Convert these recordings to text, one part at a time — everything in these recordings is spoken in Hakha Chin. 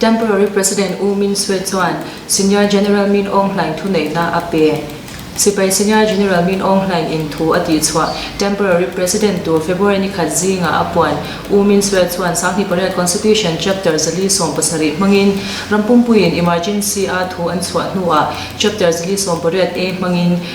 Temporary President U Min Aung chuan Senior General Min Aung Hlaing thuneihnak a pek. Sipai Senior General Min Aung Hlaing in thu a tihchuah temporary president tu February ni khat zinga a puan U Min Aung chuan sanghi pariat Constitution chapter zali sawm pasarih hmangin rampumpui in emergency a thu an chuah hnuah chapter zali sawm pariat a hmangin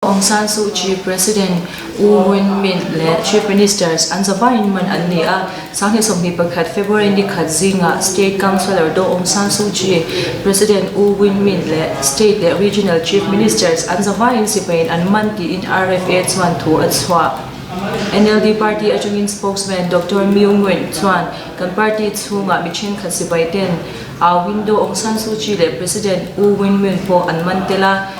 Aung San Suu Kyi, President U Win Myint le Chief Ministers an zavai in man an ni a sang he sompi pakhat February ni khat zingah State Councillor Do Aung San Suu Kyi, President U Win Myint le State le Regional Chief Ministers an zavai in sipain an man tiin RFA chuan thu an suah. NLD party achungin spokesman Dr. Myu Nguyen chuan kan party chungah mi thenkhat sipai ten a window Aung San Suu Kyi le President U Win Myint po an man tela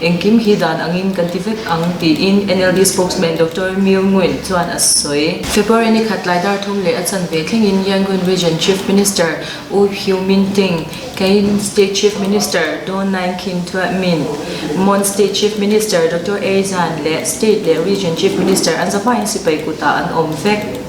engkim hi dan angin kan ti vek ang tiin NLD spokesman Dr. Myo Nguyen chuan a sawi. February ni khat lai dar thum leh a chanve thlengin Yangon Region Chief Minister U Pyu Min Ting, Kayin State Chief Minister Don Naing Khin Min, Mon State Chief Minister Dr. A Zan le State le Region Chief Minister an zapain sipai kuta an om vek.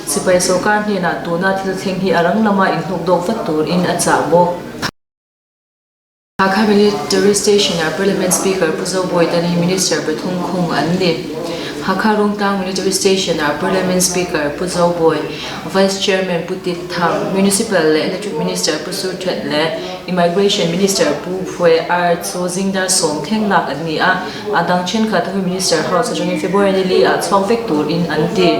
Sipai sawrkar hnenah tuna thil thleng hi a rang lama inhnukdawk vat turin a chah maw? Hakha Valley Tourist Station-ah Parliament Speaker Pu Zo Bawi Tan hi Minister pathum khung an ni. Hakha Rungtlang Military Station-ah Parliament Speaker Pu Zo Bawi, Vice Chairman Pu Tit Thang, Municipal le Electric Minister Pu Su Htet le Immigration Minister Pu Phuy R. Tso Zingdar sawm theng lak an ni a. A dang thenkhat hi Minister House a tangin February nili ah chhuang vek turin an ti.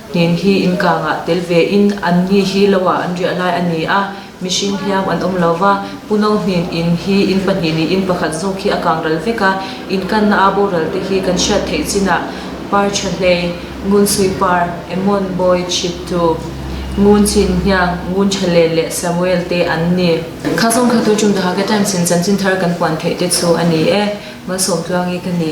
Hnin hi innkang ah tel ve in an ni hi lo ah an riah lai. A ni ah mihring hliam an um lo va. Pu No Hnin inn hi inn pahnih nih inn pakhat zong khi a kang ral vek a. Innkannak aa boral te hi kan hriat theih chin ah par thahlei, ngun sui par, emon bawi chittu, ngun cin hniang, ngun thalen le Samuel te an ni. Kha zong kha tu tum daha ke time sin chanchin thar kan puan theih te chu a ni e. Malsawm tluangi ka ni.